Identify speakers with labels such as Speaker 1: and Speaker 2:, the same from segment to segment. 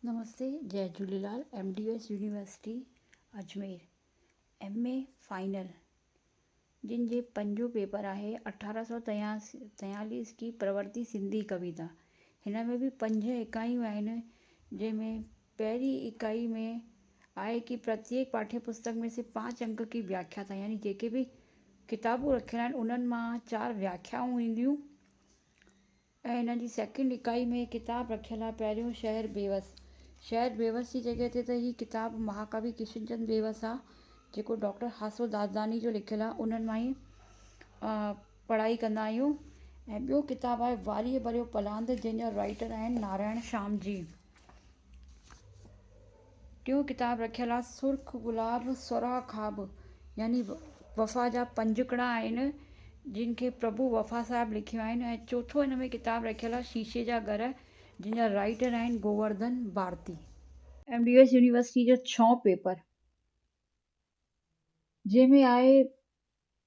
Speaker 1: نمستي جئي Jhulelal M D S University Ajmer M A final جن جي پنجون پيپر آهي اٺارهن سو تياليس ڪي پرورتي سنڌي ڪويتا هن ۾ به پنج اڪايون آهن جنهن ۾ پهرين اڪائي ۾ آهي ڪي پرتيڪ پاٺي پستڪ مي سي پانچ انڪ ڪي وياکيا ٿا يعني جيڪي به ڪتابون رکيل آهن انهن مان چار وياکيائون اينديون ۽ هن جي سيڪنڊ اڪائي ۾ هي ڪتاب رکيل آهي، پهريون شهر بيوس. شهر بيوس جي جڳهه تي ته هي ڪتاب مهاڪوي ڪشن چند بيوس آ، جيڪو ڊاڪٽر هاسو دادلاڻي جو لکيل آ، انهن مان ئي پڙهائي ڪندا آهيون. ۽ ٻيو ڪتاب آهي واريء ڀريو پلاند، جنهن جا رائيٽر آهن نارائڻ شام جي. ٽيون ڪتاب رکيل آ سرخ گلاب سرها خواب يعني وفا جا پنجڪڙا آهن جن کي پرڀو وفا صاحب لکيو آهن ۽ چوٿو ان ۾ ڪتاب رکيل آ شيشي جا گهر جن جا رائيٽر آهن Govardhan Bharti. M D S University جا ڇهون پيپر جنهن ۾ آهي.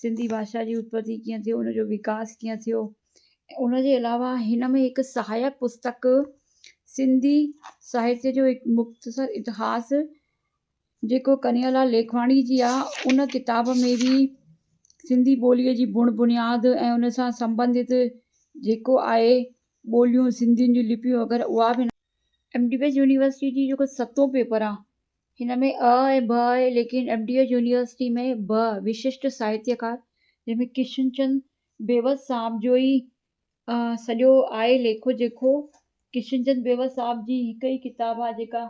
Speaker 1: سنڌي ڀاشا جي اتپتي ڪيئن ٿيو ان جو وڪاس ڪيئن ٿيو ان جي علاوه هن ۾ هڪ سهايڪ پستڪ سنڌي ساهتيه جو هڪ مختصر اتهاس جيڪو ڪنهيا لال ليکواڻي جي آ ان ڪتاب ۾ به سنڌي ٻوليء جي بڻ بنياد ۽ ان سان سمبنڌت جيڪو آهي ٻوليون سنڌين جون لپيون وغيره اها به ايم ڊي ويز يونيورسٽي جي جيڪو ستون پيپر آ هن ۾ آء ۽ ب آهي، ليڪن ايم ڊي ايڇ يونيورسٽي ۾ ب وششٽ ساهتيڪار، جنهن ۾ ڪشن چند بيوس صاحب جو ئي سڄو آهي ليکو جيڪو ڪشن چند بيوس صاحب جي هڪ ئي ڪتاب آهي جيڪا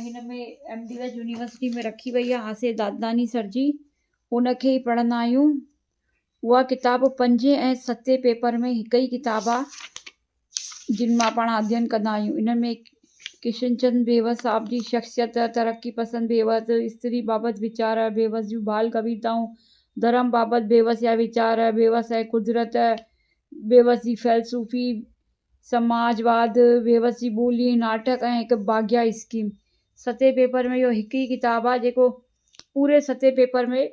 Speaker 1: هن ۾ ايم ڊي ايڇ يونيورسٽي ۾ رکي وئي آهي آصف دادلاڻي سر جي ان کي ئي پڙهندا آهيون اها ڪتاب پنجين ۽ ستين پيپر ۾ هڪ ئي ڪتاب آ جن مان پاڻ اڌين ڪندا آهيون ان ۾ ڪشن چند بيوس صاحب جي شخصيت ترقي پسند بيوس استري بابت ويچار بيوس جون بال ڪويتائون ڌرم بابت بيوس جا ويچار بيوس ۽ قدرت بيوس جي فيلسوفي سماج واد بيوس جي ٻولي ناٽڪ ۽ هڪ باغيا اسڪيم ستين پيپر ۾ اهو هڪ ئي ڪتاب آ جيڪو پوري ستين پيپر ۾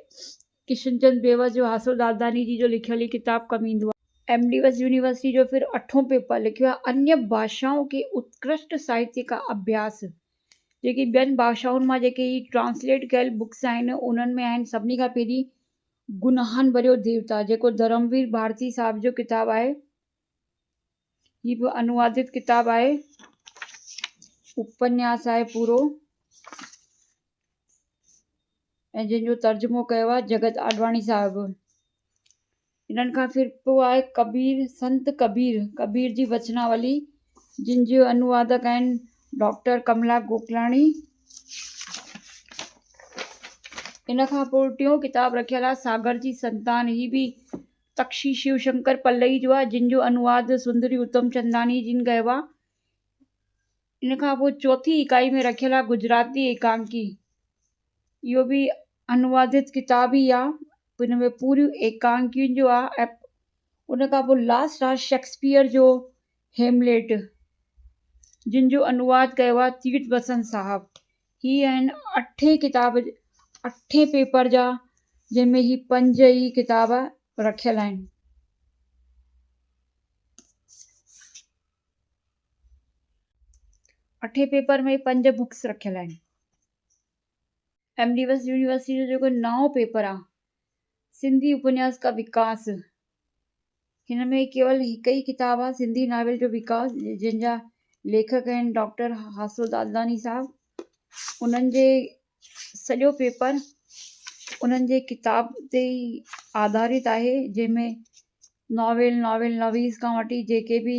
Speaker 1: ڪشن چند بيوس جو حاصل داداني جي جو لکيل هي ڪتاب ڪم ايندو آهي. ايم ڊيوس يونيورسٽي جو پھريون اٺون پيپر لکيو آهي انيا ڀاشائون ڪي اتڪرشٽ ساهتيه ڪا اڀياس جيڪي ٻين ڀاشائن مان جيڪي هي ٽرانسليٽ ڪيل بڪس آهن انهن ۾ آهن سڀني کان پھرين گناھن ڀريو ديوتا جيڪو ڌرموير ڀارتي صاحب جو ڪتاب آهي هي به انوادت ڪتاب آهي. اپنياس آهي پورو ۽ جنهن جو ترجمو ڪيو آهي جگت آڏواڻي صاحب انهن کان فرقو آهي ڪبير سنت ڪبير ڪبير جي وچناولي جن جي انوادڪ آهن ڊاڪٽر ڪملا گوڪلاڻي ان کان پوء ٽيون ڪتاب رکيل آهي ساگر جي سنتان هي به تڪشي شيو شنڪر پلئي جو آهي جنهن جو انواد سندري اتمچنداڻي جن ڪيو آهي. ان کان پوء چوٿين اڪائي ۾ رکيل آهي گجراتي ايڪانڪي. اهو به انوادت ڪتاب ئي آهي. ان ۾ پوريون ايڪانڪيون جو آهي ۽ ان کان پوء لاسٽ آهي شيڪسپيئر جو هيمليٽ جن جو انواد ڪيو آهي تيرٿ وسن صاحب. هي آهن اٺين ڪتاب اٺين پيپر جا جن ۾ هي پنج ئي ڪتاب رکيل آهن. اٺين پيپر ۾ پنج بڪس رکيل آهن ايم ڊي ويس يونيورسٽي جو جيڪو نئون پيپر آهي سنڌي اپنياس ڪا وڪاس، هن ۾ ڪيول هڪ ئي ڪتاب آهي سنڌي ناول جو وڪاس جنهن جا ليکڪ آهن ڊاڪٽر حاصل دادلاڻي صاحب انهن جي سڄو پيپر انهن جي ڪتاب تي ئي آڌارت آهي جنهن ۾ ناول ناول نويس کان وٺي جيڪي بي